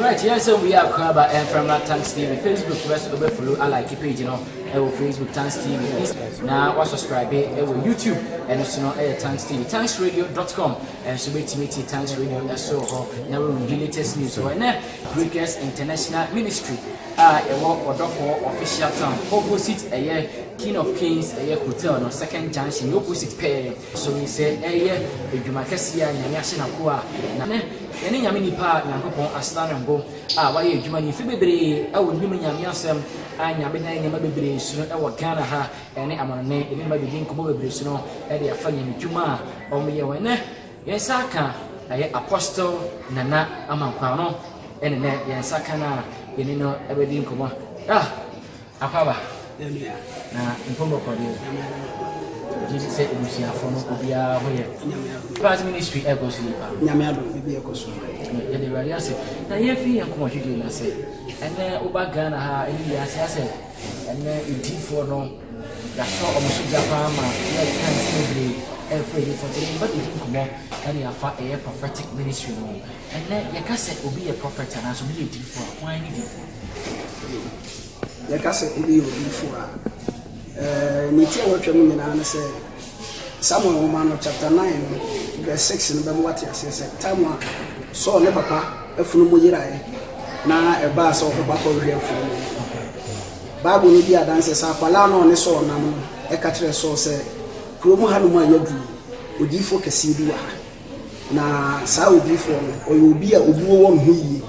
Alright, yɛn nsɛm wei akora ba mframa Tanks TV Facebook bɛ so bɛ follow a like page no ɛwɔ Facebook Tanks TV na wa subscribe ɛwɔ YouTube ɛno so no ɛyɛ Tanks TV tanksradio.com ɛnso bɛtumi ti Tanks Radio ɛso hɔ na wɔn di latest news wɔ ɛnɛ Breakers International Ministry a ɛwɔ ɔdɔfoɔ official town opposite ɛyɛ King of Kings ɛyɛ hotel no second junction opposite pɛɛ So sɛ ɛyɛ adwuma kɛseɛ a Nyame ahyɛ n'akoa a, na nnɛ yɛne Nyame nnipa a Nyankopɔn asra no ngo a wɔayɛ adwuma no mfe bebree wɔ Nnwom Nyame Asɛm a Nyame de ayɛ nneɛma bebree so no wɔ Ghana ha ne amanɔnne yɛne no bɛdidi nkɔmmɔ bebree so no de afa Nyame dwuma a wɔyɛ wɔ nnɛ yɛn nsa aka ɛyɛ Apostle Nana Amankwah no ɛne nnɛ yɛn nsa aka no a yɛne no bɛdi nkɔmmɔ ah Akwaba na mpomo kɔ deɛ gyidi sɛ ebusuafo no obiara ho yɛ past ministry ɛkɔ so yi pa nyame ado bibi ɛkɔ so yɛde awurade ase na yɛmfiri yɛn kɔn hwedwe no ase ɛnɛ woba ghana ha ɛne yɛ ase asɛ ɛnɛ ɛdifoɔ no yɛasɔ ɔmo so gya paa ma yɛka nti bebree ɛfrɛ ɛdifoɔ nti yɛmfa bɛdi nkɔmmɔ ɛne afa ɛyɛ prophetic ministry no ɛnɛ yɛka sɛ obi yɛ prophet anaasɛ obi yɛ difoɔ a wɔn ne difoɔ Yɛka sɛ obi yɛ odiyifo a, nea enti a wɔtwa mu nyinaa ne sɛ, Samuel nwoma no chapter nine no verse six no bɛma wate aseɛ sɛ tam a Saul ne papa afunumu yeraeɛ na ɛbaa sɛ ɔkɔbɔ akɔhwehwɛ afunumu no. Bible no di adanse sɛ akwadaa no a ɔne Saul nam no ɛka kyerɛɛ Saul sɛ, kurom hanom a yɛadu yi, odiyifoɔ kɛseɛ bi wɔ ha. Na saa odiyifoɔ no, ɔyɛ obi a obuo wɔ ne ho yie.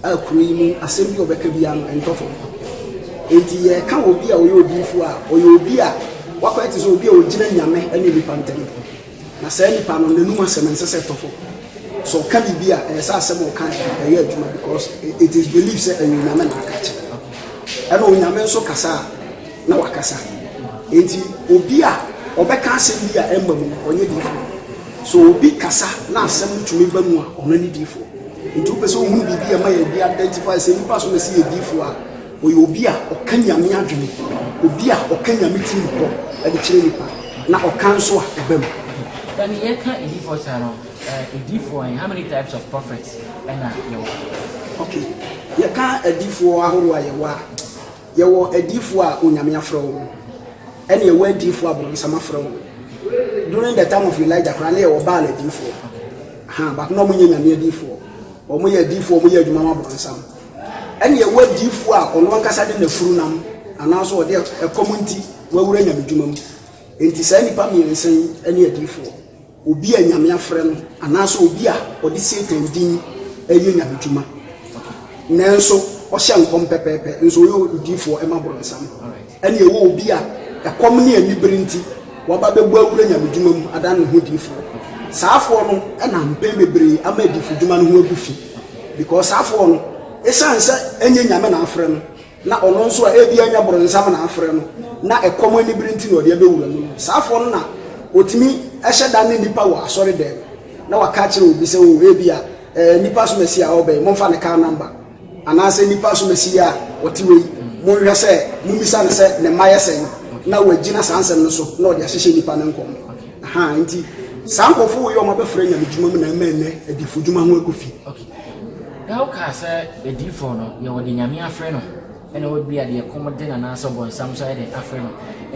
A Kuro yi mu asɛm bi a wɔbɛka biara no, ɛntɔ fam. Enti yɛka obi a ɔyɛ odiyifo a, ɔyɛ obi a wakɔyɛ te sɛ obi a ogyina Nyame ne nnipa ntam. Na saa nipa no, n'anom asɛm ɛnsɛ sɛ ɛtɔ fam. Sɛ ɔka biribi a, ɛyɛ sɛ asɛm a ɔkae no, ɛyɛ adwuma because it is believed sɛ ɛyɛ Onyame na aka akyerɛ no. Ɛna Onyame nso kasa a, na wakasa. Enti obi a ɔbɛka asɛm bi a ɛmma mu no, ɔnyɛ diyifo. So obi kasa na asɛm no tumi ba mu a, ɔno ne diyifo. Nti wopɛ sɛ wohunu biribi a ɛma yɛde identify sɛ nipa so na ɛsɛ yɛ difo a, ɔyɛ obi a ɔka nyame adwene, obi a ɔka nyame tirim kɔ ɛde kyerɛ nipa, na ɔka nso a ɛba mu. Then yɛka edifo saa no, edifo ɛ, how many types of prophets ɛna yɛwɔ? Okay, yɛka edifo ahorow a yɛwɔ a, Yɛwɔ adiyifoɔ a Onyame afrɛ wɔn, ɛne yɛwɔ adiyifoɔ a borɔnsam afrɛ wɔn. During the time of Elijah koraa na yɛwɔ Baal adiyifoɔ. Ahaa, but na wɔn nyɛ Nyame adiyifoɔ. Wɔn yɛ adiyifoɔ, wɔn yɛ adwuma ma borɔnsam. Ɛne yɛwɔ adiyifoɔ a ɔno ankasa de n'afuru nam, anaasɛ ɔde ɛkɔm nti wawura nyamedwuma mu. Enti saa nnipa mmiɛnsa yi ne adiyifoɔ. Obi a Nyame afrɛ no anaasɛ obi a ɔde Satan din reyɛ nyamedwuma nanso ɔhyɛ nkɔm pɛpɛɛpɛ nso ɔyɛ odiyifoɔ ɛma borɔnsam ɛne ɛwɔ obi a ɛkɔm ne anibere nti waba bɛbɔ awura nyamedwuma mu adan ne ho diyifoɔ saafoɔ no ɛna mpɛn bebree ama adiyifodwuma no ho agu fi because saafoɔ no ɛsiane sɛ ɛnyɛ Nyame na afrɛ no na ɔno nso a ebia anya boronsam na afrɛ no, na ɛkɔm anibere nti na ɔde abɛwura mu no, saa afoɔ no na wɔtumi hyɛ da ne nnipa wɔ asɔredɛm, na wɔaka akyerɛ obi sɛ, O, ebia, ɛɛ, nnipa asomasi a ɔreba yi, momfa ne kaa namba, anaasɛ nnipa asomasi yi a ɔte hɔ yi, monhwɛ sɛ mommisa no sɛ ne mma yɛ sɛn, na wɔagyina saa nsɛm no so na wɔde ahyehyɛ nnipa no nkɔm. Ahaa, enti saa nkurɔfoɔ wei a wɔabɛfra nyamedwuma mu na ama ɛnnɛ adifodwuma ho agu fi. Dao kaa sɛ adiyifɔɔ no deɛ wɔde Nyame afre no na ebia deɛ ɛkɔm de no anaasɛ ɔbɔnsam nso ayɛ dɛn afre no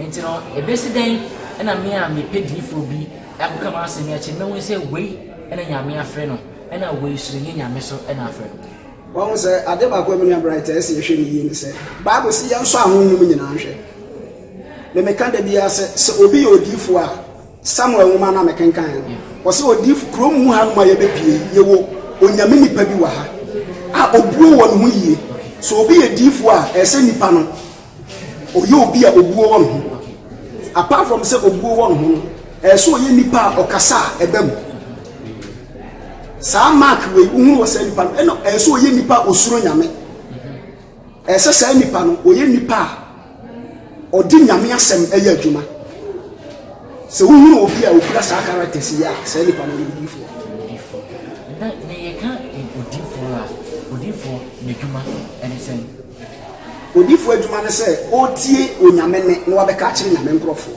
nti no ɛbɛsi dɛn na me a mepɛ diyifɔɔ bi akɔka m'asem yi akyerɛ no mɛhunu sɛ wei na Nyame afre no na wei nso ɛnyɛ Nyame so na afre no. Wahu sɛ ade baako a me nua Bright a ɛsɛ yɛhwɛ no yie ne sɛ Bible se yɛnsɔ ahonhom nyinaa nhwɛ. Me meka da biara sɛ, sɛ obi yɛ odiyifoɔ a, Samuel nwoma no a mekenkan no, ɔse odiyifo, kurom mu hanom a yɛbɛpue yi, yɛwɔ Onyame nipa bi wɔ ha a obuo wɔ ne ho yie. Sɛ obi yɛ diyifo a, ɛsɛ nipa no ɔyɛ obi a obuo wɔ ne ho. Apart from sɛ obuo wɔ ne ho no, ɛsɛ ɔyɛ nipa a ɔkasa a ɛba mu. Saa mark wei, wohunu wɔ saa nipa no, ɛna ɛsɛ ɔyɛ nipa a osuro Nyame. Ɛsɛ saa nipa no ɔyɛ nipa a ɔde Nyame asɛm yɛ adwuma. Sɛ wohunu obi a ɔkura saa characters yi a, saa nipa no ɔyɛ odiyifoɔ. Na nea yɛka odiyifoɔ a, odiyifoɔ n'adwuma ne sɛn? Odiyifoɔ adwuma ne sɛ ɔretie Onyame nne na wabɛka akyerɛ Nyame nkorɔfoɔ.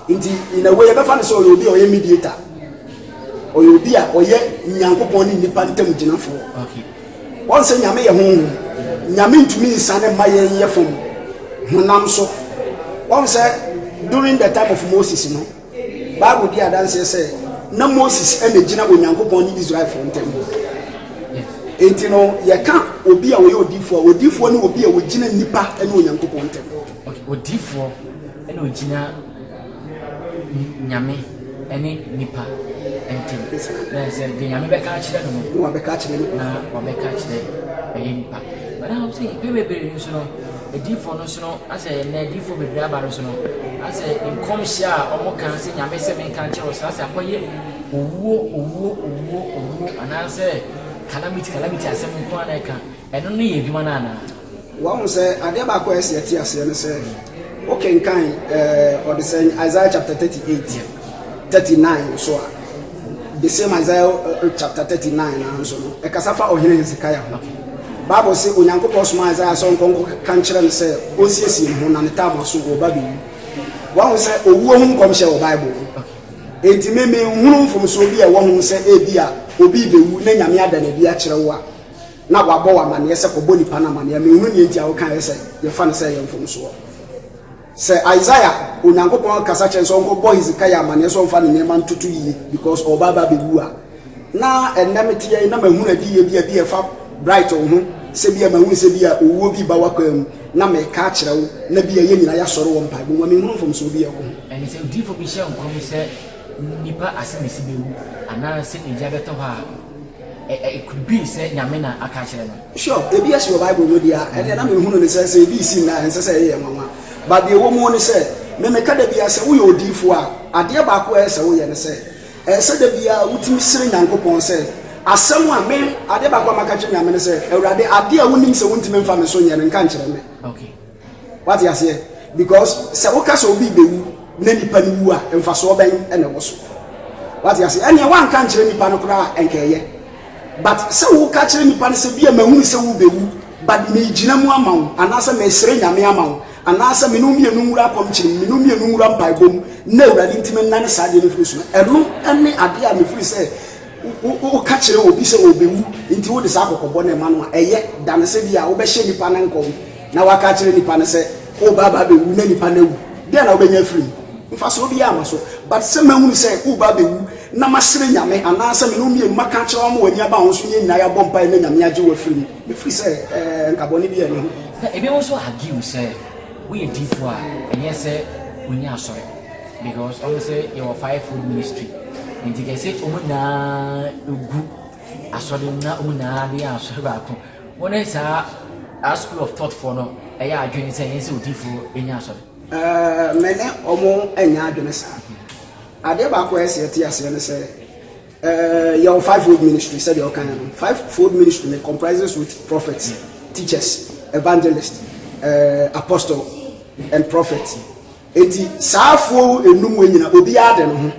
Nti in a way yɛbɛfa no sɛ ɔyɛ obi a ɔyɛ mediator. Ɔyɛ obi a ɔyɛ Nyankopɔn ne nnipa ntam gyinafoɔ. Wɔn sɛ Nyame yɛ Honhom, Nyame ntumi nsiane mma yɛn yɛ fam, honam so. Wɔn sɛ during the time of Moses no, Bible di adanseɛ sɛ na Moses na gyina Onyankopɔn ne Israelfoɔ ntam. Enti no, yɛka obi a ɔyɛ odifoɔ a, odifoɔ ne obi a ɔgyina nnipa ne Onyankopɔn ntam. Odifoɔ na ɔgyina. Nyame ne nipa ntam. Na sɛ deɛ Nyame bɛka akyerɛ no no, na wabɛka akyerɛ no, na wabɛka akyerɛ ɛyɛ nipa. Bɛda hɔ sɛ mpɛ bebree no so no, adiifoɔ no so no, asɛ na adiifoɔ bebree aba no so no, asɛ nkɔmhyɛ a wɔn ka sɛ Nyame sɛ menka nkyerɛ wɔn sɛ asɛ akɔyɛ owuo, owuo, owuo, owuo, anaasɛ calamity, calamity asɛm nko ara na ɛka. Ɛno no yɛ adwuma no anaa? Wahu sɛ adeɛ baako a ɛsi ɛte aseɛ ne sɛ wokenkan ɔdesɛn Isaiah chapter 38, 39 nso a, the same Isaiah chapter 39 no nso no, ɛkasa fa ɔhene Hezekiah ho. Bible se Onyankopɔn soma Isaiah sɛ ɔnkɔ nkɔka nkyerɛ no sɛ ɔnsiesie ne ho na ne tam aso wɔ Babylon. Wahu sɛ owuo ho nkɔmhyɛ wɔ Bible mu. Enti me menhunu mfomsoɔ bi a ɛwɔ ho sɛ ebia obi rebɛwu na Nyame ada no adi akyerɛ wo a, na wabɔ wo amanneɛ sɛ kɔbɔ nnipa no amanneɛ a, menhunu deɛ enti a wokaeɛ sɛ yɛfa no sɛ ɛyɛ mfomsoɔ. Sɛ Isaiah, Onyankopɔn rekasa kyerɛ no sɛ ɔnkɔbɔ Hezekiah amanneɛ sɛ ɔmfa ne nneɛma ntoto yie because ɔreba aba abɛwu a, na ɛnnɛ meteɛ yi na mahunu adiyie bi a bi a ɛfa Bright wo ho sɛ bi a mahunu sɛ bi a owuo bi reba w'akwan mu na mereka akyerɛ wo na bi a yɛn nyinaa yɛasɔre wɔ mpaebɔ mu a, menhunu mfomsoɔ bi a ɛwɔ ho. Ɛne sɛ odiyifoɔ bi hyɛ nkɔm sɛ nnipa asɛm asi bɛwu anaa sɛ ogya bɛtɔ hɔ a, It could be sɛ Nyame na aka akyerɛ no. Sure, ebi asi wɔ Bible mu de a, ɛnneɛ na menhunu no sɛ, sɛ ebi resi nnɛ a, ɛnsɛ sɛ ɛyɛ yɛn nwanwa. But deɛ ɛwɔ mu ne sɛ, me meka da biara sɛ woyɛ odiyifoɔ a, adeɛ baako a ɛyɛ sɛ woyɛ ne sɛ, ɛyɛ sɛ da biara wotumi srɛ Nyankopɔn sɛ, asɛm a me, adeɛ baako a maka akyerɛ Nyame ne sɛ, Awurade, adeɛ a wonim sɛ wontumi mfa me so nyɛ no, nka nkyerɛ me. Okay. Wate aseɛ? Because sɛ woka sɛ obi rebɛwu na nipa no wu a, mfasoɔ bɛn na ɛwɔ so? Wate aseɛ? Ɛneɛ woanka nkyerɛ nipa no koraa a, nka ɛyɛ. But sɛ woka kyerɛ nipa no sɛ bia mahunu sɛ worebɛwu but megyina mu ama wo anaasɛ mesrɛ Nyame ama wo anaasɛ mene wo mmienu nwura akɔmkyere mu, mene wo mmienu nwura mpaebɔ mu na Awurade nti mennane saa adeɛ no mfiri so no, ɛno ne adeɛ a mefiri sɛ Woka kyerɛ obi sɛ obewu, enti wode saa kɔkɔbɔ no ma no a, ɛyɛ. Da no sɛ bi a wobɛhyɛ nipa no nkɔm na woaka akyerɛ nipa no sɛ woreba aba abewu na nipa no awu. Dɛn na wobɛnya afiri mu? Mfasoɔ biara mma so. But sɛ mahunu sɛ woreba abewu na masrɛ Nyame anaasɛ me ne wo mmienu maka akyerɛ wo ama w'ani aba wo ho so, yɛn nyinaa yɛabɔ mpaeɛ na Nyame agye wo afiri mu. Mefiri sɛ ɛɛ, nka bɔne biara nni ho. Na ebinom nso argue sɛ woyɛ diifoɔ a, ɛnyɛ sɛ wonni asɔre. Because ɔmo sɛ yɛwɔ five fold ministry nti kɛse ɔmo nyinaa egu asɔre mu na ɔmo nyinaa bɛyɛ asɔre baako wɔn ne saa a school of thought foɔ no ɛyɛ adwene sɛ yɛn sɛ odiifoɔ ɛnya asɔre. Ɛɛ mɛ ne ɔmo ɛnya adwene saa adeɛ baako a ɛsɛ ɛte aseɛ no sɛ ɛɛ yɛwɔ five fold ministry sɛdeɛ ɔka yɛn no five fold ministry no comprises with prophets teachers evangelist ɛɛ apostle and prophet. Enti saa afuo nnum wei nyina obiaa de ne ho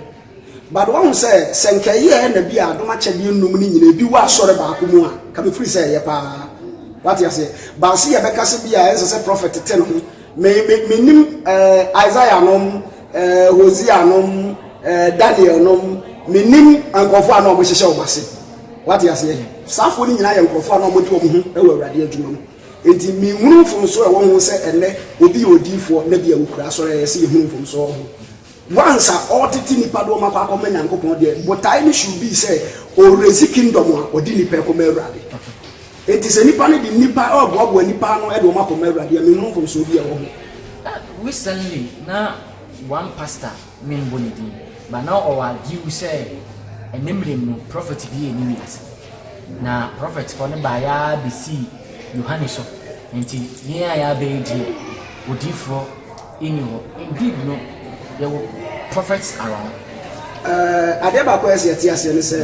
but wahu sɛ sɛ nka ɛyɛɛ na bi a adom akyɛdeɛ nnum no nyina ebi wɔ asɔre baako mu a nka mefiri sɛ ɛyɛ paa wate aseɛ baase yɛ bɛka sɛ bi a ɛnsɛ sɛ prɔfɛt te ne ho me me menim eh, Isaiah nom eh, Hosea nom eh, Daniel nom menim nkurɔfoɔ a na wɔhyehyɛ wɔn ase wate aseɛ saa afoɔ no nyinaa yɛ nkurɔfoɔ a na wɔde wɔn ho wɔ awurade adwuma mu Enti minhunu mfomso a ɛwɔ ho sɛ ɛnnɛ obi yɛ odiyifoɔ na bia ɔkura asɔre a yɛse yɛhunu mfomso wɔ ho. Once a ɔretete nnipa de wɔn akɔ akɔma Nyankopɔn deɛ, botae no should be sɛ ɔreraise kingdom a ɔde nnipa rekɔma Awurade. Enti sɛ nnipa no de nnipa reboaboa nnipa ano de wɔn akɔma Awurade a, menhunu mfomsoɔ biara wɔ ho. Recently na one pastor memmbɔ ne din, but na ɔwɔ adwew sɛ ɛnnɛ mmerɛm no prɔfɛt bi anni wiase, na prɔfɛtfoɔ no baeɛ ara bɛsii Yohane so, enti yɛn a yɛaba yi deɛ, odiyifoɔ nni hɔ. Indeed no, yɛwɔ prɔfɛts around. Ɛɛ, adeɛ baako a ɛsɛ sɛ yɛte aseɛ ne sɛ,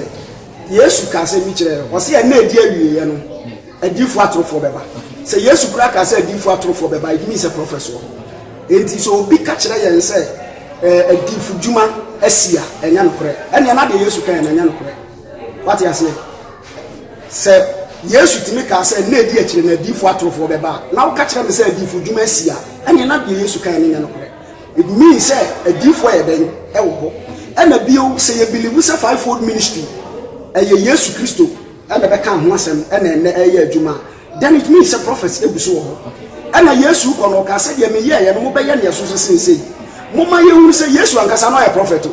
Yesu kaa sɛ bi kyerɛ yɛn. Ɔse ɛnna ɛdi awieɛ no, adiifoɔ atorofoɔ bɛba. Sɛ Yesu koraa kaa sɛ adiifoɔ atorofoɔ bɛba, it means sɛ prɔfɛt soɔ. Enti sɛ obi ka kyerɛ yɛn sɛ eh, adiifo dwuma asi a, ɛnyɛ nokorɛ. Ɛnneɛ na deɛ Yesu kaeɛ no ɛnyɛ nokorɛ. Wate aseɛ? Sɛ Yesu tumi kaa sɛ nna ɛdi akyire no adiifoɔ atorofoɔ bɛba a, na woka kyerɛ me sɛ adiifo dwuma asi a, ɛnneɛ na deɛ Yesu kaeɛ no nyɛ nokorɛ. It means sɛ adiyifo yɛ dɛn wɔ hɔ. Ɛna bio sɛ yɛ believe sɛ five fold ministry ɛyɛ Yesu Kristo na ɛbɛkaa ho asɛm ɛna ɛnɛ ɛyɛ adwuma a then it means sɛ prophets egu so wɔ hɔ. Ɛna Yesu rekɔ no ɔkaa sɛ deɛ me yɛɛyɛ no mo bɛyɛ nea ɛso so sen sei. Momma yɛn hunu sɛ Yesu ankasa no ɔyɛ prophet o.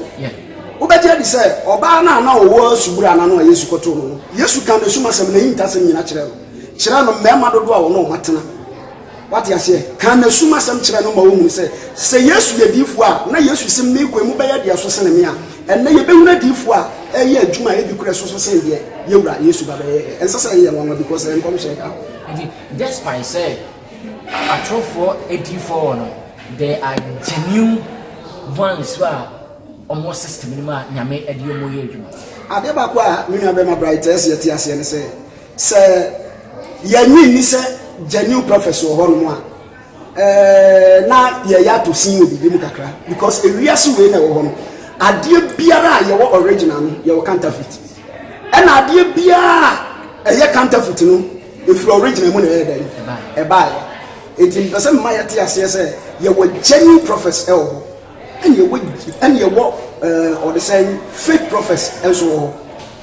Wobɛgye adi sɛ ɔbaa no a na ɔwɔ subura no ano a Yesu kɔtoo no no, Yesu kaa n'asum asɛm, n'ahintasɛm nyina kyerɛɛ no. Kyerɛ no mmarima dodoɔ a ɔne wɔn atena. Wate aseɛ? Ka N'asum asɛm kyerɛ no ma ɔhunu sɛ, sɛ Yesu yɛ diyifoɔ a, na Yesu sem ne kwan mu bɛyɛ deɛ ɛso sene me a, ɛnnɛ yɛbɛhunu adiyifoɔ a ɛreyɛ adwuma a ɛdi korɛ ɛso so sene deɛ yɛn Wura Yesu ba bɛyɛeɛ. Ɛnsɛ sɛ ɛyɛ yɛn nwanwa because ɛyɛ nkɔmhyɛ da. Nti, despite sɛ atorofoɔ adiyifoɔ wɔ no, there are genuine ones a wɔwɔ system no mu a Nyame de wɔn yɛ adwuma. Adeɛ baako a me nuabarima Bright ɛsɛ yɛte aseɛ ne sɛ, Sɛ yɛnnye nni sɛ genuine prophets wɔ hɔnom a, ɛɛ, na yɛyɛ atɔ sin wɔ biribi mu kakra, because ewiase wei na ɛwɔ hɔ no, adeɛ biara a yɛwɔ original no, yɛwɔ counterfeit. Ɛna adeɛ biara a ɛyɛ counterfeit no, ɛfiri original mu na ɛyɛ dɛn? Ɛbaeɛ. Enti mepɛ sɛ mema yɛte aseɛ sɛ yɛwɔ genuine prophets ɛwɔ hɔ. Ɛnneɛ wɔ, ɛnneɛ wɔ, ɛɛ, wɔde sɛ fake prophets nso wɔ hɔ.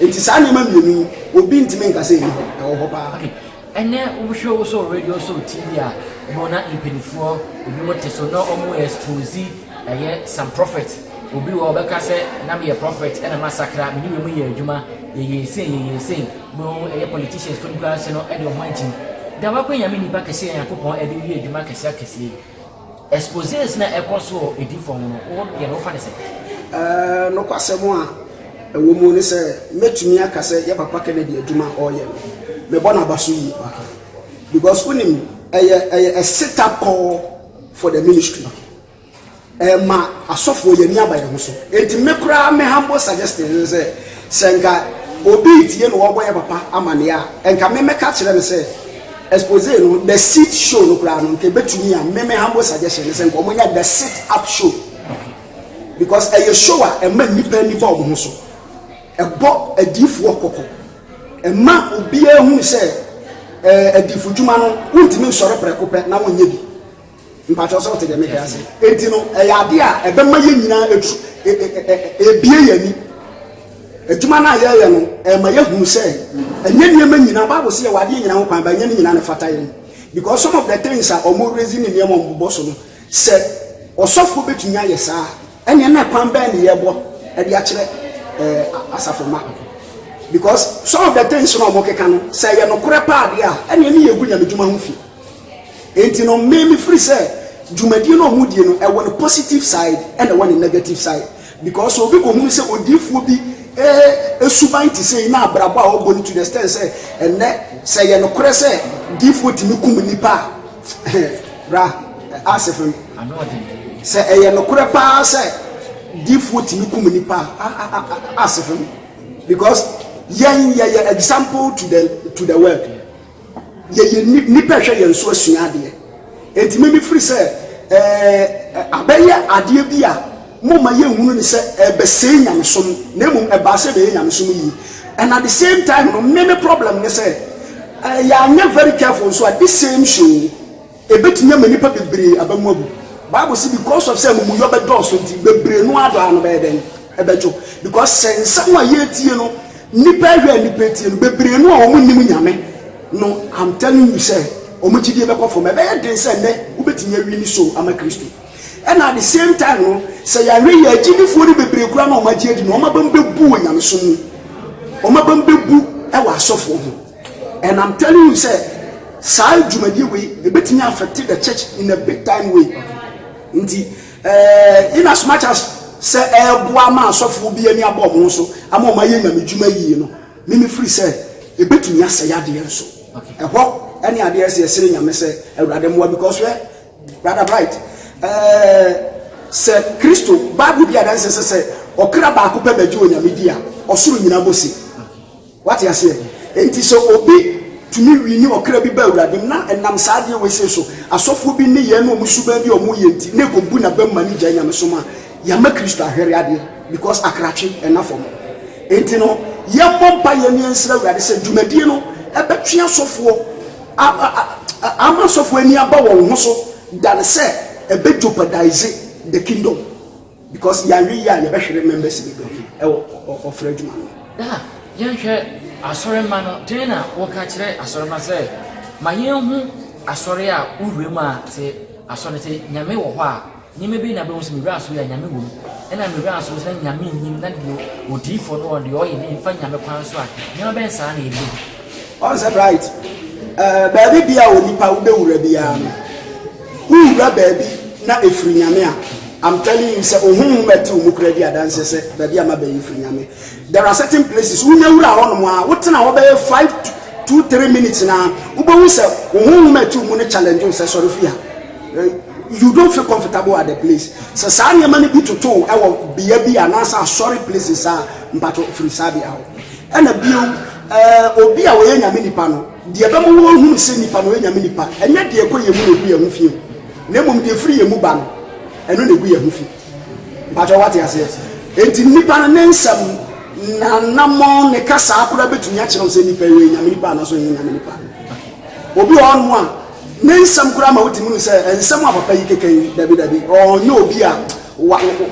Nti saa nneɛma mmienu yi, obi ntumi nka sɛ ɛnni hɔ, ɛwɔ hɔ paa. Okay, ɛnɛ wohwɛ wo so radio so TV a, wɔn na mpanimfoɔ ebi mo te so na wɔn expose ɛyɛ some prophet. Obi wɔ ɔbɛka sɛ na meyɛ prophet ɛna masakra, mene wei mu yɛ adwuma, yɛyɛ sei, yɛyɛ sei. Mo ɛyɛ politicians fo no koraa ase no ɛde wɔn agyim. Da wakɔ nyame nipa kɛseɛ a Nyankopɔn ɛde yɛ adwuma akɛseɛ akɛseɛ yi. Exposés na ɛkɔ so wɔ Ediifo ho no, wo deɛ no wofa no sɛn? Nokwasɛm a ɛwɔ mu ne sɛ, mɛtumi aka sɛ yɛ papa Kennedy adwuma a ɔreyɛ no, mebɔ no aba so yie pa ara. Because wonim, ɛyɛ ɛyɛ a sit up call for the ministry. Ɛma asɔfoɔ yɛn ani aba yɛn ho so. Enti me koraa me humble suggestion ne sɛ, Sɛ nka obi retie na wɔrebɔ yɛn papa amanneɛ a, nka me mɛka akyerɛ no sɛ, Expose no, The Seat show no koraa no, nka ebetumi a me me humble suggestion ne sɛ nka wɔnyɛ The Sit Up show. Because ɛyɛ show a ɛma nnipa ani fa wɔn ho so. Ɛbɔ adiyifoɔ kɔkɔ. Ɛma obiara hu sɛ ɛɛ adiyifodwuma no, wontumi nsɔre prɛko pɛ na wonyɛ bi. Mpakyɛw sɛ wote deɛ meka yi ase. Enti no, ɛyɛ adeɛ a ɛbɛma yɛn nyinaa atu abue yɛn ani. Adwuma no a yɛreyɛ no, ɛma yɛhunu sɛ ɛnyɛ nneɛma nyinaa, Bible se yɛwɔ adeɛ nyinaa ho kwan, but ɛnyɛ ne nyinaa na ɛfata yɛn. Because some of the things a wɔn raising ne nneɛma a wɔn bobɔ so no, sɛ ɔsɔfoɔ bɛtumi ayɛ saa a, ɛneɛ na kwan bɛn ne yɛbɔ de akyerɛ eh, asafo mma. Because some of the things na wɔn keka no, sɛ ɛyɛ nokorɛ paa deɛ a, ɛneɛ ne yɛgu nyamedwuma ho fi. Enti no me me firi sɛ dwumadie no a wɔn die no ɛwɔ ne positive side ɛna ɛwɔ ne negative side because obi kɔ hunu sɛ odiifoɔ bi esuban te sɛ yi na abrabɔ a ɔbɔ no to the extent sɛ ɛnɛ sɛ yɛ nokorɛ sɛ diifoɔ tumi kum nipa a bra asɛ fam sɛ ɛyɛ nokorɛ paa sɛ diifoɔ tumi kum nipa a asɛ fam because yɛn yɛyɛ example to the to the world. Yɛyɛ nnipa ɛhwɛ yɛn so asua adeɛ enti me mefiri sɛ eh, abɛyɛ adeɛ bi a momma yɛnhunu ne sɛ ɛbɛsɛe eh, nyamesom na mmom ɛbaa eh, sɛ ɛbɛyɛ nyamesom yie and at the same time no me me problem ne sɛ eh, yɛanyɛ very careful nso a this same show Ebetumi ama nnipa bebree aba mu abu. Bible se because of sɛ amumuyɔ bɛdɔɔso nti bebree no ara dɔ ara no bɛyɛ dɛn? Ɛbɛdwo. Because sɛ nsɛm a yɛretie no nnipa ahwɛ a nnipa atie no bebree no a wɔn nnim Nyame no I'm telling you sɛ wɔn gyidie bɛkɔ fam. Ɛbɛyɛ den sɛ nnɛ wobɛtumi awi ne so ama Kristo. Ɛna at the same time no sɛ yɛanhwɛ yie a agyidifoɔ no bebree koraa no a wɔn agye adi no wɔn aba mu bɛbu wɔ nyamesom mu. Wɔn aba mu bɛbu wɔ asɔfoɔ ho. And am telling you sɛ saa dwumadie wei ebetumi affect the church in a big time way nti ɛɛ in as much as sɛ ɛɛboa ama asɔfoɔ bi ani abɔ ɔmo so ama ɔmo ayɛ nyame dwuma yie no mimi firi sɛ ebetumi asɛe adeɛ nso ɛhɔ ɛne adeɛ ɛsɛ ɛsere nyame sɛ awurade mmoa because wɛ brother bright ɛɛ sɛ kristo bible bi adanse sɛ sɛ ɔkra baako pɛ bɛgye onyame di a ɔsoro nyinaa bɔ si. Wate aseɛ? Enti sɛ obi tumi wini ɔkra bi ba Awurade mu, na ɛnam saa adeɛ wei sei so, asɔfoɔ bi nneyɛɛ ne wɔn suban bi a wɔyɛ nti, na ɛkɔbu n'abam ma no gyae nyamesom a, yɛama Kristo ahwɛre adeɛ, because akratwe nna fam. Enti no, yɛmmɔ mpaeɛ na yɛnsrɛ Awurade sɛ dwumadie no bɛtwe asɔfoɔ a, ama asɔfoɔ ani aba wɔn ho so, than sɛ ɛbɛ jeopardize the kingdom. Because yɛanyɛ yie a yɛbɛhwere members bebree ɛwɔ ɔfrɛ adwuma no mu. Daa yɛnhwɛ asɔremma no dɛn na woka kyerɛ asɔremma sɛ ma yɛnhu asɔre a wowura mu a sɛ asɔre no sɛ nyame wɔ hɔ a nneɛma bi na bɛhu sɛ mewura asɔre a nyame wɔ mu ɛna mewura asɔre sɛ nyame nnim na deɛ odiifoɔ no ɔdeɛ ɔyɛ ne mfa nyame kwan so a nneɛma bɛn saa na ɛbɛhu ɔnsɛ bright baabi bia onipa wobɛwura biara no Wo wura baabi na ɛfiri Nyame a, I'm telling you sɛ ohonhom a ɛte wo mu koraa di adanseɛ sɛ baabi a maba yi firi Nyame. There are certain places, wonya wura hɔ nom a, wotena hɔ bɛyɛ five to two three minutes no a, wobɛhu sɛ wo honhom a ɛte wo mu no challenge wo sɛ sɔre firi ha. You don't feel comfortable at the place. Sɛ saa nneɛma no bi toto wo wɔ bea bi anaasɛ asɔre places a, mpatwɔ firi saa bea hɔ. Ɛna bio, eh, obi a ɔyɛ Nyame nipa no, Deɛ ɛbɛma wɔahunu sɛ nnipa no yɛ nyame nnipa, ɛnyɛ deɛ ɛkɔ yɛn mu na ɛgu yɛn ho fi o, na mmom deɛ ɛfiri yɛn mu ba no, ɛno na ɛgu yɛn ho fi. Mpakyɛ woate aseɛ? Enti nnipa no, ne nsɛm, n'anammɔn, ne kasaa koraa bɛtumi akyerɛ wo sɛ nnipa yi, ɔyɛ nyame nnipa anaasɛ ɔnyɛ nyame nnipa. Obi wɔ hɔnom a, ne nsɛm koraa ma wotumi hu sɛ nsɛm a papa yi keka yi, dabi dabi, ɔnyɛ obi a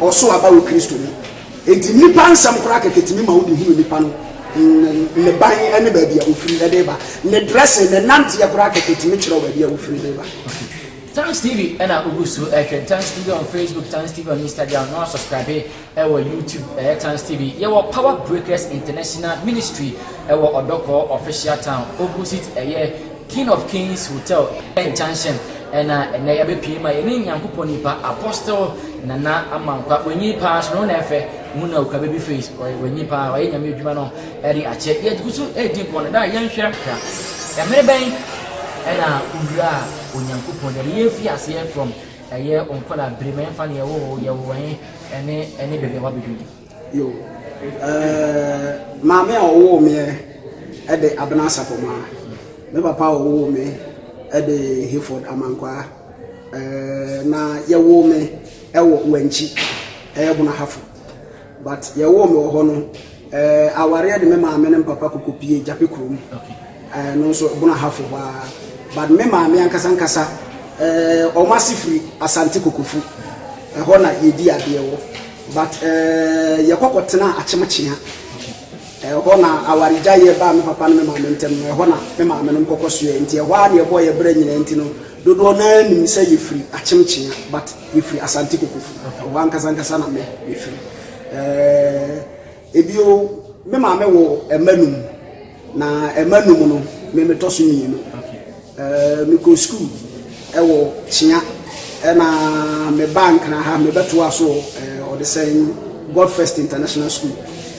ɔso aba wɔ Kristo mu. Enti nnipa nsɛm koraa kɛkɛ tumi ma wode hunu nipa no ne ban ne baabi a ofiri de ba. Ne dressing, ne nanteɛ koraa kɛkɛ tumi kyerɛ wo baabi a ofiri de ba. Tanks TV ɛna wogu so ɛhwɛ Tanks TV on Facebook, Tanks TV on Instagram, na wasubscribe ɛwɔ YouTube ɛyɛ Tanks TV. Yɛwɔ Power Breakers International Ministry ɛwɔ Ɔdɔkɔɔ Official Town, opposite ɛyɛ King of Kings Hotel Nkyɛnhyɛm na ɛnɛ yɛabɛpie ma yɛne Nyankopɔn nipa Apostle Nana Amankwa. Wanyin paa so no na ɛfɛ. Mu na okura baby face. Wanyin paa, wayɛ Nyame adwuma no ɛde akyɛ. Yɛgu so ɛredi nkɔmmɔ no, daa yɛnhwɛ kakra. Ɛmere bɛn ɛna owuraa Onyankopɔn deɛ no? Yɛnfiri aseɛ from ɛyɛ wo nkwadaa bere mu, ɛmfa no yɛwoo wo, yɛwoo wo ɛhe, ɛne ɛne baabi a wabɛduru. Yoh. Ɛɛɛ, maame a ɔwoo meɛ de Abena Sapɔmaa. Me papa a ɔwoo me de Hayford Amankwaa. Ɛɛɛ, na yɛwoo me wɔ Wankyi, ɛyɛ Bonahafo. But yɛwoo me wɔ hɔ no, ɛɛɛ, awareɛ de me maame ne me papa kɔkɔpuee Gyapekurom. Okay. Eh no nso ɛbono ahafo hɔ ara but me maame ankasa ankasa eh wɔn ase firi Asante Kokofu ɛhɔ na yɛdi adeɛ wɔ but eh yɛkɔ kɔtena Akyemkyea ɛhɔ na awaregyaeɛ baa me papa ne me maame ntam no ɛhɔ na me maame nom kɔkɔ soɛ nti ɛhɔ ara na yɛbɔɔ yɛ berɛ nyinaa nti no dodoɔ no ara nim sɛ yɛfiri Akyemkyea but yɛfiri Asante Kokofu ɛhɔ ankasa ankasa na me mefiri eh Bio, me maame wɔ mma num, na mma num no, me metɔ so mmienu. Mekɔɔ sukuu wɔ Kyea, ɛna mebaa Nkran ha, mebɛtoaa so Ɔdesɛn God First International School.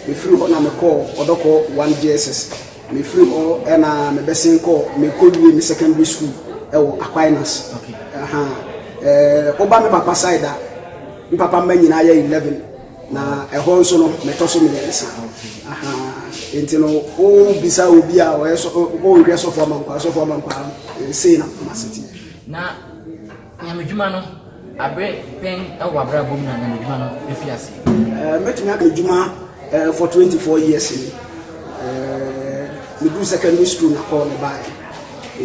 Mefiri hɔ na mekɔɔ Ɔdɔkɔ 1 JSS. Mefiri hɔ na mebɛsen kɔɔ, mekɔwie me secondary school wɔ Aquinas. Woba me papa side a, me papa mma nyinaa yɛ 11. Na ɛhɔ nso no, mɛtɔ so mmiɛnsa. Aha. Nti no, wobisa obi a ɔyɛ sɔ, ɔrehwɛ sɔfo amankwaa, sɔfo amankwaa, sei na masete. Na nyamedwuma no, abere bɛn wɔ abrabɔ mu na nyamedwuma no efi ase? Ɛɛ, mɛtumi aka edwuma ɛɛ for twenty four years ni. Ɛɛ, medu secondary school na kɔɔ ne baayɛ.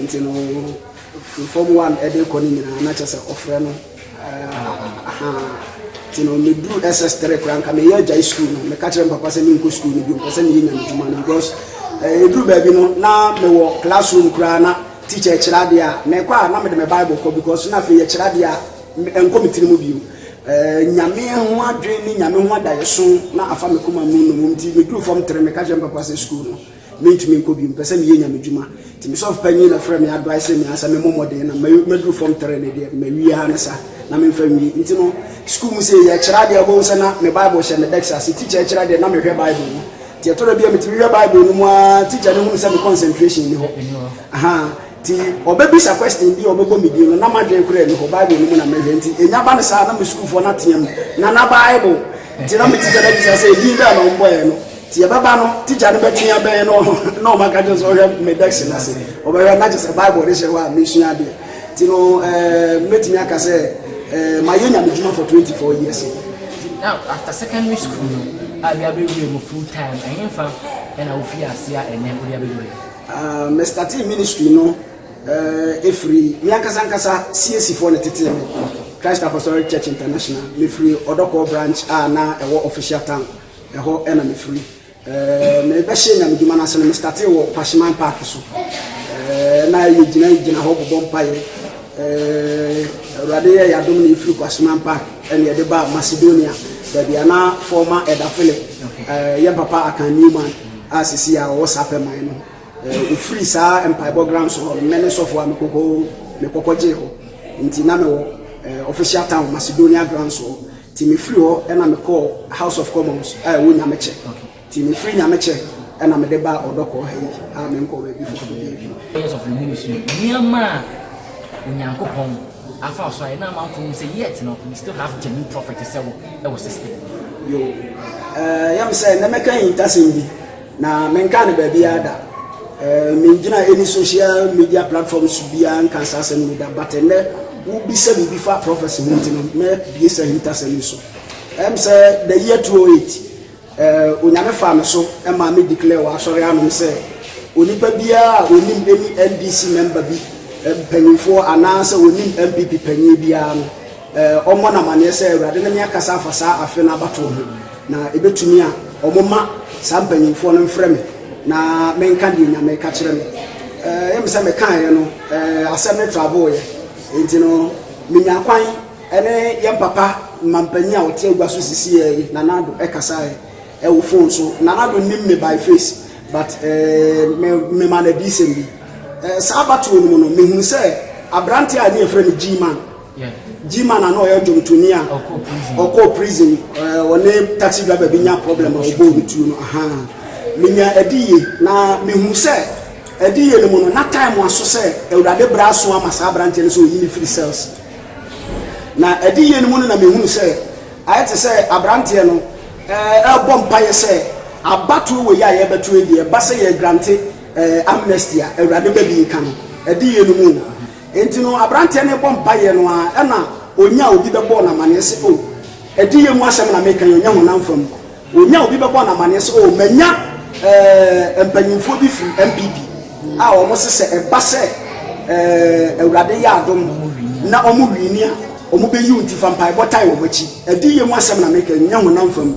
Nti no, from one ɛde kɔ ne nyinaa, na kyɛ sɛ ɔfrɛ no. Nti no meduru SS3 koraa nka meyɛ agyae sukuu no meka kyerɛ mpapa sɛ menkɔ sukuu no bio mpɛ sɛ meyɛ nyamedwuma no because ɛduru eh, baabi no na mewɔ classroom koraa na teacher kyerɛ adeɛ a mekɔ a na mede me bible kɔ because na afei yɛkyerɛ adeɛ a ɛnkɔ me tiri mu bio eh, nyame ho adwene ne nyame ho adaeɛso na afa me koma mu no mu nti meduru fam tere meka kyerɛ mpapa sɛ sukuu no Mentumi nkɔ bio, mepɛ sɛ meyɛ Nyame dwuma. Nti me sɔfo panyin na frɛɛ me advice me ansa memmɔ mmɔden na maduru form three no deɛ mawie ara ne sa na memfa nwie. Nti no school mu sei yɛkyerɛ adeɛ a wobɛhu sɛ na me bible hyɛ me desk ase, teacher ɛkyerɛ adeɛ na mehwɛ bible mu. Nti ɛtɔ da bi a metumi hwɛ bible no mu ara teacher no hunu sɛ me concentration nni hɔ. Ahaa, nti ɔbɛbisa question bi a ɔbɛbɔ me din no na m'adwene koraa nni hɔ, bible no mu na mehwɛ. Nti ɛnya ba no saa na me sukuufoɔ no ateam, Nana bible! Nti na me teacher no abisa sɛ edin bɛn na ɔmbɔeɛ no. Nti yɛbɛba no tikya no bɛtwe yɛn bɛn no na ɔma ka kyerɛ sɛ ɔhwɛ me desk no ase ɔbɛhwɛ na kyerɛ sɛ bible de hyɛ hɔ a mesua adeɛ nti no ɛɛ mɛtumi aka sɛ ɛɛ mayɛ nyame dwuma for 24 years now after secondary school no a bi abɛwie mu full time ɛhe mfa ɛna wofi ase a ɛnɛ wode abɛdu hɔ ah, me starting ministry no ɛɛ ɛfiri me ankasa ankasa CAC foɔ ne tetee me Christ Apostolic Church International mefiri ɔdɔkɔɔ branch a na ɛwɔ official town Ɛhɔ na me firi. Me bɛ hyɛ nyame dwuma no ase no me startee wɔ Kwahyeman park so. Na yɛ gyina gyina hɔ bɔbɔ mpaeɛ. Awurade yɛ yadom na yɛ firi Kwahyeman park ɛna yɛde ba Macedonia baabi a na former Elder Philip yɛn papa Akan Newman a sisi a ɔwɔ saa pɛ man no ofiri saa mpaebɔ grounds hɔ no mɛne sɔfo a mekɔkɔ mekɔkɔ gyee hɔ nti na mewɔ official town Macedonia grounds hɔ Nti me firi hɔ ɛna me kɔɔ House of Commons a ɛwɔ Nyamekyɛ. Nti me firi Nyamekyɛ ɛna me de baa Ɔdɔkɔɔ ha yi a me nkɔɔ baabi foforɔ bia bio. Areas of the ministry, nneɛma a Onyankopɔn afa so ayɛ na amanfoɔ hu sɛ yet no we still have genuine prophet sɛ wo ɛwɔ system mu. Yoo, ɛɛ yam sɛ nnɛ mɛka ahintasɛm bi. Na menkaa no baabiara da. Eh, mengyina any social media platform so biara nka saa asɛm no da. But ɛnɛ, wobisa biribi fa prophecy ho nti no, mɛbie sɛ ahintasɛm yi so. Ɛm sɛ the year 208, eh, Onyame faa me so ma me declare wɔ asɔre anom sɛ onipa biara a onim any NDC member bi eh, mpanyinfoɔ anaasɛ onim MPP panyin biara no, Wɔmmɔ no amanneɛ sɛ Awurade ne me akasa afa saa afe no abatoɔ ho, na ɛbɛtumi a wɔmma saa mpanimfoɔ no mfrɛ me na menka deɛ Nyame reka kyerɛ me. Ɛyɛ me sɛ mekaeɛ no, asɛm no traveeɛ, enti no menyaa kwan ne yɛn papa manpanin a ɔte agua so sisiiɛ yi, Nana Addo, kasaeɛ wɔ fon so. Nana Addo nnim me by face, but memaa no adiyisɛm bi. Saa abatoɔ no mu no, mehunu sɛ aberanteɛ a ne yɛfrɛ no G-Man, G-man a na ɔyɛ dwomtoni a ɔkɔɔ prison ɔne taxi driver bi nya problem a ɔbɔɔ no tuo no ahaa menya adiyie na mehunu sɛ adiyie no mu no na time aso sɛ Awurade berɛ aso ama saa aberanteɛ no sɛ ɔyi no firi cells na adiyie no mu no na mehunu sɛ ayɛ te sɛ aberanteɛ no ɛrebɔ mpaeɛ sɛ abatoɔ wɔ yi a yɛrebɛto yi deɛ ɛba sɛ yɛ grante amnesty a Awurade bɛbi ka no adiyie no mu Enti no, aberanteɛ no rebɔ mpaeɛ no ara, ɛnna ɔnyaa obi bɛbɔɔ no amanneɛ sɛ, O, adiyie mu asɛm na mereka yi, ɔnyɛ honam fam. Ɔnyaa obi bɛbɔɔ no amanneɛ sɛ, O, manya eh, mpanimfoɔ bi firi NPP a wɔse sɛ ɛba sɛ eh, Awurade yɛ adom na wɔwini a, wɔbɛyi wo nti fa mpaebɔ tae wɔn akyi. Adiyie mu asɛm na mereka yi, ɛnyɛ honam fam.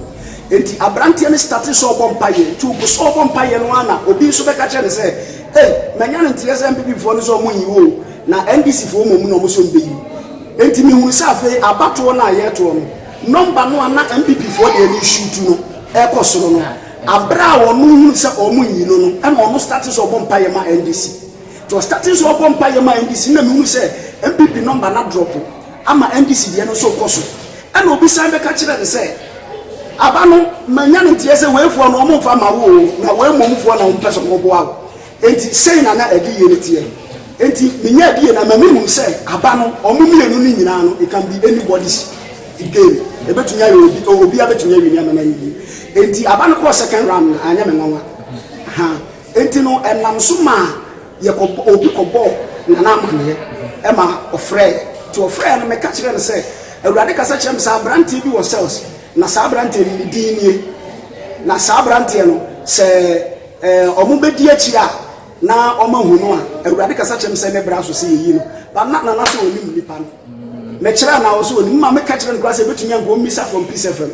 Enti aberanteɛ no startee sɛ ɔrebɔ mpaeɛ. Enti ɔgu so rebɔ mpaeɛ no ara na obi nso bɛka kyerɛɛ no sɛ, Hey manya no nteɛ sɛ NPP foɔ no sɛ ɔmo nyi wo o na NDC foɔ mmom na ɔmo sɛ ɔmo bɛ yi wo enti me hunu sɛ afei abatoɔ no a yɛɛtoɔ no nɔmba no a na NPP foɔ deɛ no resuutu no ɛɛkɔ soro no aberɛ a ɔno hunu sɛ ɔmo nyi no no ɛna ɔno starte sɛ ɔbɔ mpaeɛ ma NDC nti ɔstarte sɛ ɔbɔ mpaeɛ ma NDC na me hunu sɛ NPP nɔmba no adrɔpo ama MDC deɛ no nso rekɔ so. Ɛna obi san bɛka kyerɛɛ no sɛ, Aba no, manya no nteɛ sɛ weifoɔ no wɔmfa mma wo oo, na wei mmomfoɔ na wɔpɛ sɛ wɔboa wo. Enti sei na na adiyie no teɛ. Enti menya adiyie no ama mehunu sɛ aba no, wɔn mmienu no nyinaa no, it can be anybody's game. Ɛbɛtumi ayɛ obi, obiara bɛtumi awini ama no ayɛ yie. Enti aba no kɔɔ second round no, anyɛ me nwanwa. Ahaa. Enti no, ɛnam so maa yɛkɔbɔ, obi kɔbɔɔ Nana amaneɛ, ɛma ɔfrɛɛ, nti ɔfrɛɛ no, meka kyerɛɛ no sɛ, Awurade kasa kyerɛɛ me sɛ aberanteɛ bi wɔ cells, na saa aberanteɛ no, ne din nie. Na saa aberanteɛ no, sɛ ɛɛ, wɔbɛdi akyire a, na wɔahu no a, Awurade kasa kyerɛɛ me sɛ ne bra so sɛ yɛyi no. But na Nana sɛ ɔnim nipa no. Mekyerɛɛ no a, ɔse ɔnim, ma meka kyerɛɛ no koraa sɛ ɛbɛtumi a, nka ɔmmisa from Peace FM.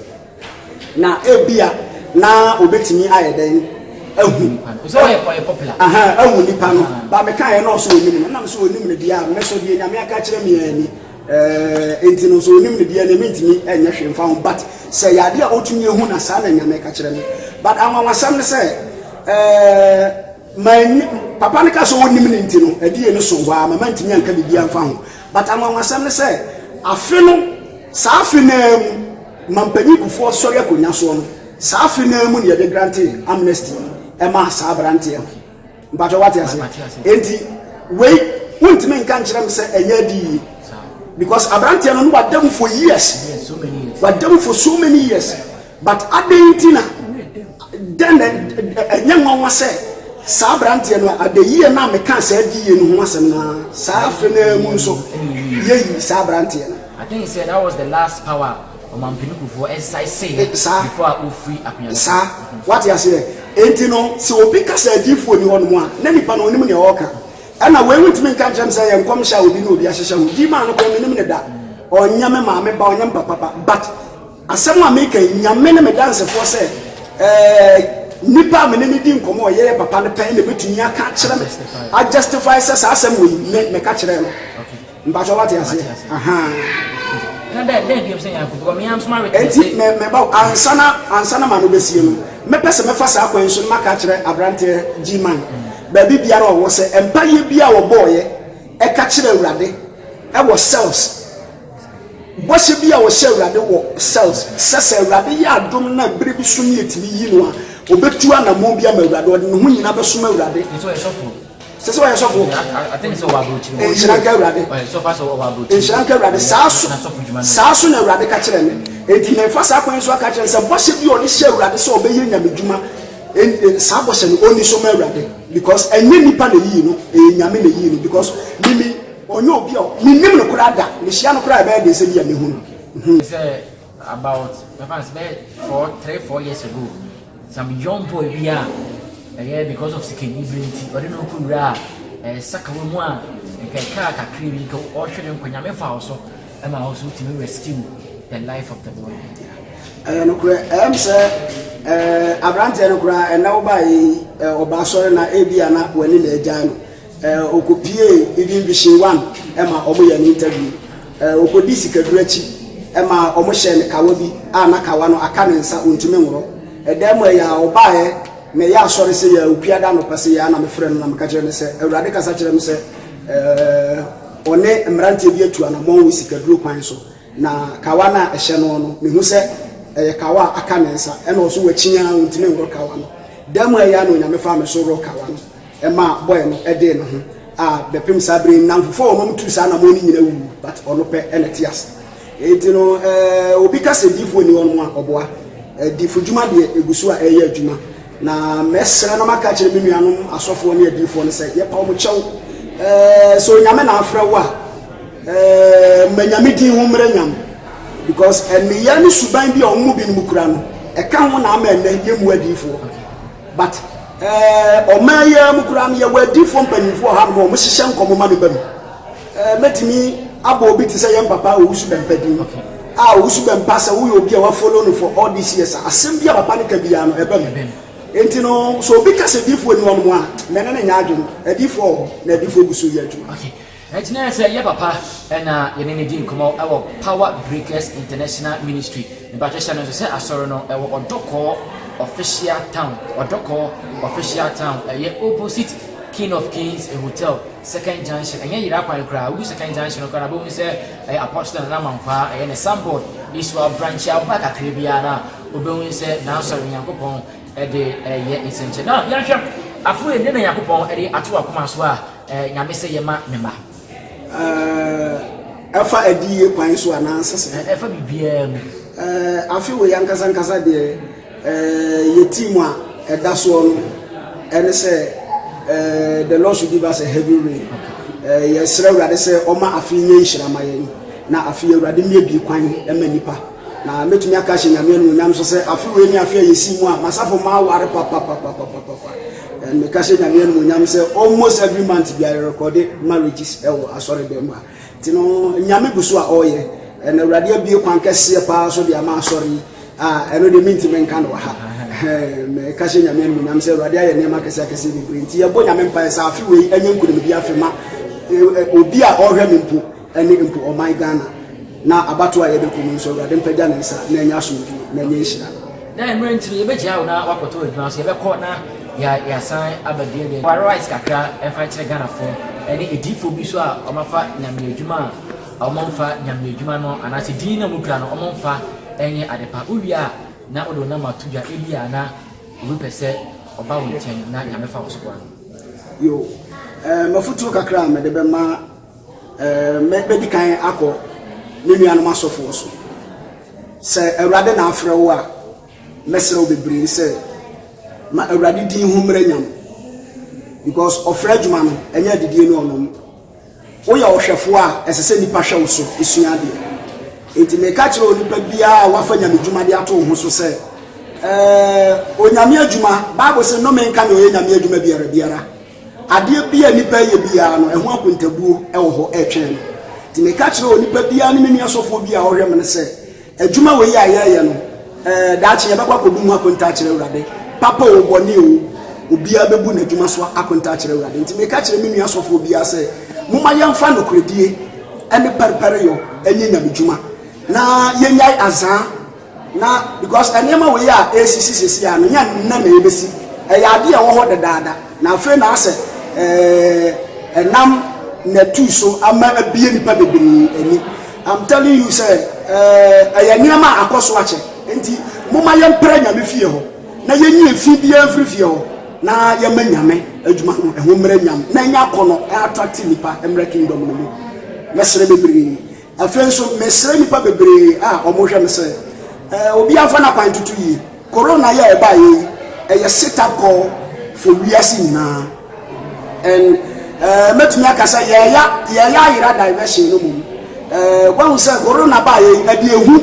Na ebia na obetumi ayɛ dɛn ahu aha ahu nipa no ba meka yɛ na ɔso onim no nam so onim no deɛ a me so deɛ nyame aka kyerɛ me yɛn ni ɛɛ nti no so onim no deɛ ne mentumi ɛnyɛ hwee mfa ho but sɛ yɛ adeɛ a otumi ehu na saa na nyame ka kyerɛ me but anwanwasɛm no sɛ ɛɛ manyi papa no ka sɛ onim no nti no ɛdeɛ no so hɔ a mama ntumi anka biribi amfa ho but anwanwasɛm no sɛ afe no saa afe naa mu Mampanyin Kufuor sɔre akonwa soɔ no, saa afe no ara mu na yɛde grante amnesty maa saa abranteɛ no. Mpakyɛw wate aseɛ? Enti wei wontumi nka nkyerɛ me sɛ ɛnyɛ adi yie because abranteɛ no na wada mu for years, wada mu for so many years but adɛn nti na dɛn na ɛnyɛ nwanwa sɛ saa abranteɛ no adayie na meka saa adi yie no ho asɛm no saa afe no ara mu nso yɛyi saa abranteɛ no. I think sɛ that was the last power ɔmampanikufoɔ ɛsae seeɛ before a ɔfiri akonya no so. Saa, wate aseɛ? Enti no, sɛ obi ka sɛ adiyifoɔ nni hɔ nom a, na nipa no ɔnim nea ɔreka. Ɛna wei wontumi nka nkyerɛ me sɛ ɛyɛ nkɔmhyɛ a obi ne obi ahyehyɛ ho. Gyii maa no koraa mennim no da. Ɔnyɛ me maame ba, ɔnyɛ me papa ba. But asɛm a meka yi, Nyame ne me dansefoɔ sɛ ɛɛ nipa a me ne no di nkɔmmɔ a ɔyɛ yɛ papa no pɛ na ɛbɛtumi aka akyerɛ me, a justify sɛ saa asɛm wei me meka kyerɛɛ no. Mpakyɛw wate aseɛ ahaa. Na dɛ dɛn bio sɛ Nyanko because me ara nso m'awe kyerɛ sɛ. Nti mɛba o ansa na ansa na maame bɛsie no mɛpɛ sɛ mɛfa saa kwan yi so na maka akyerɛ abranteɛ G-man baabi biara a ɔwɔ sɛ mpaeɛ bi a ɔbɔɔeɛ ɛka kyerɛ Awurade ɛwɔ cells bɔhyɛ bi a ɔhyɛ Awurade wɔ cells sɛ sɛ Awurade yɛ adom na bere bi so ne ɛtumi yi no a ɔbɛtu anamɔn bi ama Awurade ɔde ne ho nyina bɛsom Awurade. Nti ɔyɛ sɔfoɔ. Sɛ sɛ ɔyɛ sɔfo. Atene sɛ ɔwɔ aburokyiri mu. Nhyira nka Awurade. Ɔyɛ sɔfo sɛ ɔwɔ aburokyiri mu. Nhyira nka Awurade. Saa so saa so na Awurade ka kyerɛ me. Enti mefa saa kwan so aka kyerɛ sɛ bɔhyɛ bi a ɔde hyɛ Awurade sɛ ɔbɛyɛ nyame dwuma saa bɔhyɛ no ɔni so ma Awurade because ɛnyɛ nipa na eyi no ɛyɛ nyame na eyi no because mimi ɔnyɛ obi a menim no koraa da mehyia no koraa ɛbɛyɛ den sɛ bi a mehu no. About mɛfa no sɛ bɛyɛ four three four years ago some young boy bi a ɛyɛ because of sikani bere nti ɔde ne ho kɔwura a ɛyɛ sakawa mu a nka ɛkaa kakra bi nka ɔhwɛ ne nkwa nyame fa wo so ɛma wo so wotumi rescue the life of the boy ɛyɛ nokorɛ ɛm sɛ aberanteɛ no koraa ɛnɛ wo baeɛ yi ɔba asɔre na ebi a na w'ani na agyae no Ɔkɔpiee Eden Vision One ma wɔyɛɛ no interview. Ɔkɔdii sikaduro akyi ma wɔhyɛɛ no kawa bi a na kawa no aka ne nsa, ɔntumi nworɔ. Ɛda mu ɛyɛ a ɔbaeɛ na ɛyɛ asɔre sɛ yɛ a Ɔkuada anɔpa sɛ yɛ a na mefrɛ no na meka kyerɛ no sɛ Awurade kasa kyerɛ me sɛ ɔne mmeranteɛ bi atu anammɔn wɔ sikaduro kwan so na kawa no a ɛhyɛ no no mehu sɛ ɛyɛ kawa a aka ne nsa ɛna ɔso wakyin ara ɔntumi nworɔ kawa no. Da mu ɛyɛ a na Onyame faa me so worɔ kawa no. ɛma boy no dee ne ho a bɛpem saa bere yi nnamfofo a wɔma mutuu saa anamɔn no nyina wuwu but ɔno pɛ na ɛte ase enti no eh, obi ka sɛ diifo nni hɔ no a ɔboa eh, diifo dwuma deɛ egu so a ɛyɛ adwuma na mɛsrɛ na maka kyerɛ me nuanom asɔfoɔ ne adiifoɔ no sɛ yɛpa wɔn kyɛw eh, sɛ onyame na afrɛ wo a eh, ma nyame din ho mmerɛ nyam because ɛneyɛ ne suban bi a wɔn mu binom kura no ɛka ho na ama ɛnɛ yɛmmu adiifoɔ But eh, ɔman yi ara mu koraa no yɛwɔ adiifoɔ mpanyinfoɔ wɔ hanom a wɔn hyehyɛ nkɔmɔ ma no ba mu. Eh, mɛtumi abɔ obi te sɛ yɛn papa Owusu Bɛmpa din. Ah, Owusu Bɛmpa sɛ woyɛ obi a wa follow no for all these years a, asɛm bi a papa no ka biara no ɛba mu. Enti no, sɛ obi ka sɛ diifoɔ nni hɔnom a, mɛne no nyɛ adwene. Adiifoɔ wɔ hɔ na adiifoɔ gu so yɛ adwuma. Enti na ɛsɛ sɛ yɛn papa na yɛne no di nkɔmmɔ wɔ Power Breakers International Ministry ne batrɛhyɛ no so sɛ asɔre no wɔ Ɔdɔkɔɔ Official Town, Ɔdɔkɔɔ Official Town, ɛyɛ opposite King of Kings Hotel, Second Junction, ɛnyɛ Yera kwan koraa, wodu Second Junction no koraa no a wobɛhu sɛ ɛyɛ Apostle Nana Mankwaa, ɛyɛ ne signboard, ne so a branch a woba kakra biara no a wobɛhu sɛ n'asɔre no Nyankopɔn de reyɛ nsɛnkyerɛ. Now yɛnhwɛ, afei, dɛn na Nyankopɔn de ato w'akoma so a Eh, Nyame sɛ yɛ ma Ne mma. Eh, ɛfa adiyie kwan so anaa nsese? Eh, ɛfa biribiara mu. Eh, afe wɔ yankasa nkasa deɛ eh, yɛ team a ɛda soɔ no ɛne sɛ eh, the Lord should give us a heavy rain. Eh, yɛsrɛ Awurade sɛ ɔma afe nyɛ nhyira ma yɛn na afe yɛ Awurade mmie bi kwan ma nipa na mɛtumi aka hyɛ Nyame anuonyam so sɛ afe wei ne afe a yɛsi mu a masafo ma aware papapapapapa And me ka hyɛ nyame animonyam sɛ almost every month bi ayɛ recorde marriages ɛwɔ asɔre dɛm mu a nti no nyame gu so a ɔyɛ ɛna awurade abie kwan kɛseɛ paa so de ama asɔre yi a ɛno deɛ menti me nka no wɔ ha me ka hyɛ nyame animonyam sɛ awurade ayɛ nneɛma akɛseɛ akɛseɛ bebree nti yɛbɔ nyame mpaeɛ sɛ afe wei ɛnyɛ nkonimdi afe ma obi a ɔhwɛ me mpo ne mpo ɔman Ghana, na abatoɔ a yɛde rekɔ mu nso, Awurade mpagya ne nsa na ɛnyɛ asomdwoe, na ɛnyɛ nhyira. Dɛn mmerɛ nti na yɛbɛgyaa wo na woakɔtɔ adwuma nso? Yɛbɛkɔ na yɛasan aba bio de wɔ rights kakra mfa nkyerɛ Ghanafoɔ ne adiyifoɔ bi nso a wɔafa Nyame adwuma a wɔmfa Nyame adwuma no anaasɛ din no a wɔkura no wɔmfa nyɛ adepa. Wowie a na wode wo nam ato dwa, ebia na obi pɛ sɛ ɔba wo nkyɛn na Nyame fa wo so boa no. Yoo, ɛɛ, m'afotuo kakra a mede bɛma. Mɛdi kan akɔ me nuanom asɔfoɔ so. Sɛ Awurade na afrɛ wo a, mɛsrɛ wo bebree sɛ ma Awurade din ho mmerɛ nya mo. Because ɔfrɛ adwuma no, ɛnyɛ adidie ne ɔnom. Woyɛ ɔhwɛfoɔ a, ɛsɛ sɛ nnipa hwɛ wo so sua adeɛ. Enti meka kyerɛ onipa biara a wafa nyame dwuma de ato wo ho so sɛ, ɛɛ, onyame adwuma, Bible se nnome nka nea ɔyɛ nyame adwuma biara biara. Adeɛ biara a nnipa reyɛ biara no, ɛho akontabuo wɔ hɔ retwɛn no. Nti meka kyerɛ onipa biara ne me nua sɔfoɔ bi a ɔhwɛ me no sɛ, adwuma wei a yɛreyɛ no, ɛɛ, daakye yɛbɛkɔ akɔbu ho akonta akyerɛ Awurade. Papa o, bɔne o, obiara bɛbu n'adwuma so akonta akyerɛ Awurade. Nti meka kyerɛ me nua sɔfoɔ biara sɛ, momma yɛmfa nokorɛdie ne pɛrepɛreyɔ nyɛ nyamedwuma, na yɛnnyae azaa. Na because nneɛma wei a ɛresisi seesei a no nyɛ nnɛ na ɛbɛsi, ɛyɛ adeɛ a ɛwɔ hɔ dedaada, na afei na asɛ eh, ɛnam natu so ama abie nipa bebree ani. I'm telling you sɛ eh, ɛyɛ nneɛma a akɔ so akyɛ, nti moma yɛmpere nyame fie hɔ na yɛnyi efi biara mfiri fie hɔ na yɛma nyame adwuma no ɛho mmerɛ nyam na ɛnya akɔ no attractive nipa mmerɛ kingdom no mu. Mɛsrɛ bebree. Afei nso, mesrɛ nnipa bebree a wɔhwɛ me sɛ obiara mfa n'akwan ntutu yie. Korona yi a ɛbaeɛ yi, ɛyɛ setup call for wiase nyinaa. And ɛɛ mɛtumi aka sɛ yɛɛya yɛɛya ayera diversion no mmom. Ɛɛ wɔahu sɛ korona baeɛ yi, ɛde ehu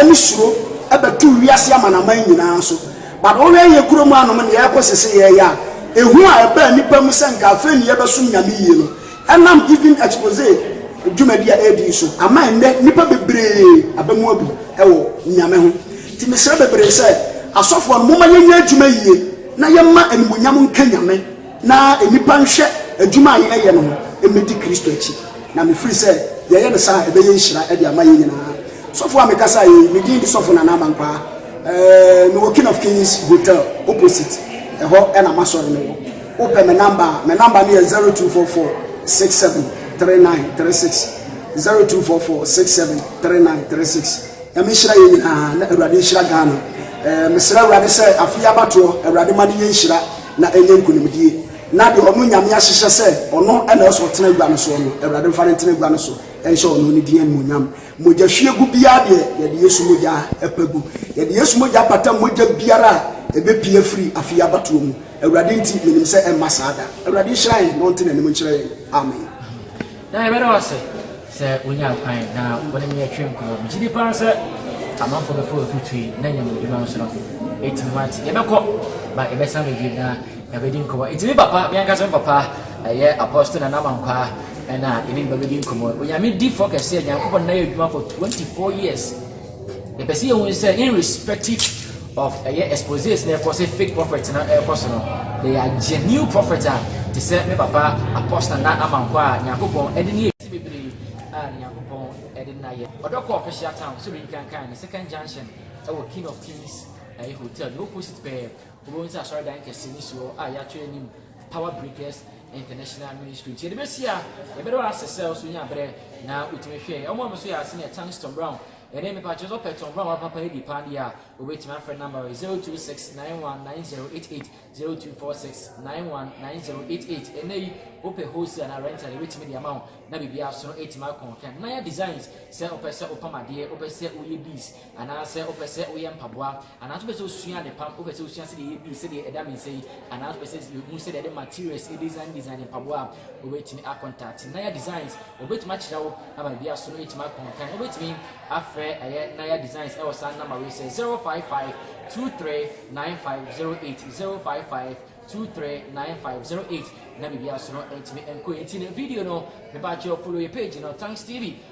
ne suro ɛbɛtu wiase amanaman nyinaa so. But wohwɛ yɛ kurom anom nea ɛrekɔ sese yɛɛya a, ehu a ɛbaa nnipa mu sɛ nka afei ne yɛbɛsom Nyame yie no, Ɛnam Giving Exposé dwumadi a ɛredi yi so ama ɛnnɛ nnipa bebree aba mu abu wɔ Nyame ho. Nti mesrɛ bebree sɛ, Asɔfoɔ no momma yɛnyɛ adwuma yie na yɛmma animuonyam nka Nyame na nnipa nhwɛ adwuma a yɛreyɛ no ho mmɛdi Kristo akyi. Na mefiri sɛ yɛyɛ no saa a ɛbɛyɛ nhyira de ama yɛn nyinaa. Sɔfoɔ a mekasa yi, me din de Sɔfo Nana Amankwaa. Mewɔ King of Kings Hotel opposite, ɛhɔ na m'asɔre no wɔ. Wopɛ me number a, me number no yɛ zero two four four six seven three nine three six zero two four four six seven three nine three six. Nyame nhyira yɛn nyinaa na Awurade nhyira Ghana. Ɛɛ mesrɛ Awurade sɛ afe yi abatoɔ Awurade ma no nyɛ nhyira na ɛnyɛ nkunimdie na deɛ ɔno Nyame ahyehyɛ sɛ ɔno ɛna ɛsɛ ɔtena agua no soɔ no Awurade mfa no ntena agua no so nhyɛ ɔno ne din animuonyam. Mogyahwiegu biara deɛ, yɛde Yesu mogya pa gu. Yɛde Yesu mogya pata mogya biara a ɛbɛpue afiri afe yi abatoɔ mu. Awurade nti, menim sɛ ɛremma saa da. Awurade nhyira yɛn na ɔnte n'anim nkyerɛ yɛn. Amen. Na yɛbɛda wo ase sɛ wonyaa kwan na wo ne me yɛtwee nkɔmmɔ. Megye di paa sɛ amanfoɔ bɛfa w'aturuturu yi na nya mu adwuma nso no, ɛtumi ate. Yɛbɛkɔ, ba yɛbɛsan bɛdwam na Yɛabɛdi nkɔmmɔ. Enti me papa, me ankasa me papa, ɛyɛ Apostle Nana Mankwaa, ɛna ɛne me ba bɛdi nkɔmmɔ. Onyame difoɔ kɛseɛ, Nyankopɔn na yɛ adwuma for 24 years. Yɛpɛ sɛ yɛhu sɛ irrespective of ɛyɛ exposés na ɛkɔ sɛ fake prophet na ɛkɔ so no, they are genuine prophet a te sɛ me papa Apostle Nana Amankwa a Nyankopɔn ɛde ne yɛ bebree a ne Nyankopɔn ɛde na yɛ. Ɔdɔ kɔ official town, sɛ obi nkankan no, second junction ɛwɔ King of Kings ɛyɛ hotel no opposite pɛɛ. Wobɛhu sɛ asɔredan kɛse no si hɔ a yɛato anim Power Breakers International Ministry. Nti yɛde bɛsi a, yɛbɛda wo ase sɛ wo so nyaa berɛ na wotumi hwɛɛ. Wɔn a wɔn so yɛ ase no yɛ Tanks Tom Brown ne me. Pa kyerɛ sɛ wopɛ Tom Brown a papa adi paa deɛ a, wobɛtumi afrɛ number wɔ yi, 0269190088, 0246919088. Ɛnnɛ yi, wopɛ wholesale anaa rental, yɛbɛtumi de ama wo na biribiara so no atumi akɔ. Hwɛ Naya Designs sɛ wopɛ sɛ wopam adeɛ, wopɛ sɛ woyɛ beads, Anaasɛ wopɛ sɛ woyɛ mpaboa? Anaasɛ wopɛ sɛ wusua adepam? Wopɛ sɛ wusua sɛdeɛ yɛyɛ beads sɛdeɛ ɛda me nsa yi? Anaasɛ wopɛ sɛ wohu sɛdeɛ yɛde materials design design mpaboa a? Wobɛtumi akɔntakte Naya Designs. Wɔbɛtumi akyerɛ wo ama baabi a so no atumi akɔ nkan. Wobɛtumi afrɛ ɛyɛ Naya Designs ɛwɔ saa nɔma wei sɛ, 0552395080, 0552395080 na biribi a so no atumi nkɔ yie. Nti no video no, mepa akyɛw follow yɛ page no, Thanks TV.